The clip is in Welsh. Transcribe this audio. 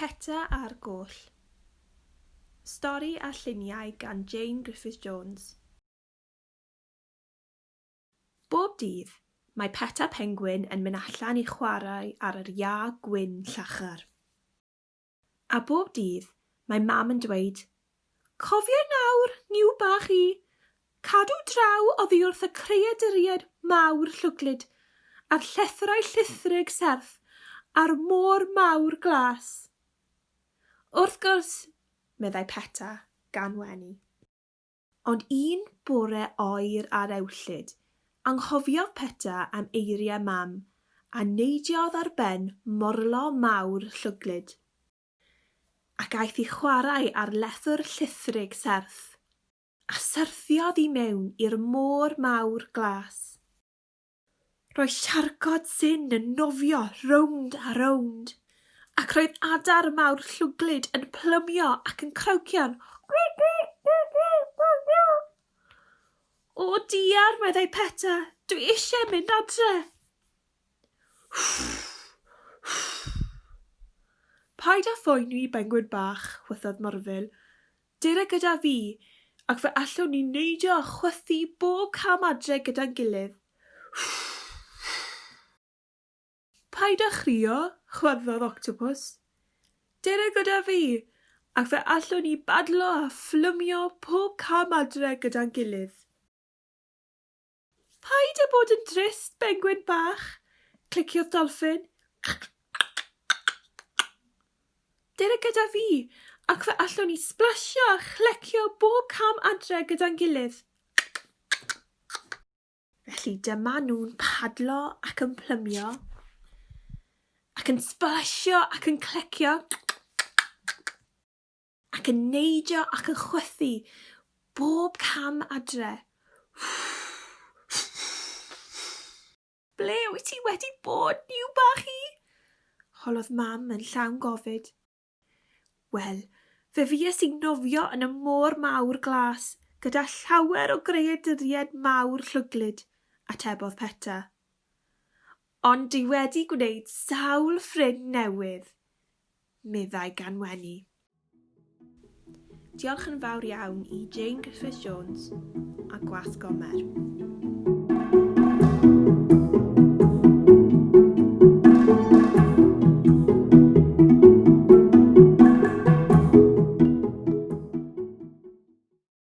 Peta a'r Goll Stori a lluniau gan Jane Griffith-Jones Bob dydd, mae Peta Penguin yn mynd allan i chwarae ar yr iâ gwyn llachar. A bob dydd, mae Mam yn dweud, Cofia nawr, Niw bach i, cadw draw oddi wrth y creaduriaid mawr llwglyd, a'r llethrau llithrig serth, a'r môr mawr glas. Wrth gwrs, meddai Peta, gan wenu. Ond un bore oer ar ewllyd, anghofiodd Peta am eiriau Mam, a neidiodd ar ben morlo mawr llwglyd. Ac aeth i chwarae ar lethwr llithrig serth, a syrthiodd i mewn i'r môr mawr glas. Roedd llargod Sin yn nofio rownd a rownd, ac roedd adar mawr llwglyd yn plymio ac yn crowcio'n O diar, meddai Peta, dwi eisiau mynd adre. Paid â phoeni, bengwyn bach, chwythodd Morfil. Dere gyda fi, ac fe allwn ni neidio a chwythu bob cam adre gyda'n gilydd. Paid â chrio, chwyddodd Octopws. Dere gyda fi, ac fe allwn ni badlo a fflymio pob cam adre gyda'n gilydd. Paid â bod yn drist, bengwin bach! cliciodd dolffin. Dere gyda fi, ac fe allwn ni sblasio a chlecio bob cam adre gyda'n gilydd. Felly dyma nhw'n padlo ac yn plymio, ac yn sblasio ac yn clecio. ac yn neidio ac yn chwythu bob cam adre. Ble wyt ti wedi bod, niw bach i? holodd mam yn llawn gofid. Wel, fe fues i'n nofio yn y môr mawr glas gyda llawer o greaduriaid mawr llwglyd, atebodd Peta. Ond dwi wedi gwneud sawl ffrind newydd. meddai Ganwenny. Diolch yn fawr iawn i Jane Griffith Jones a Gwas Gomer.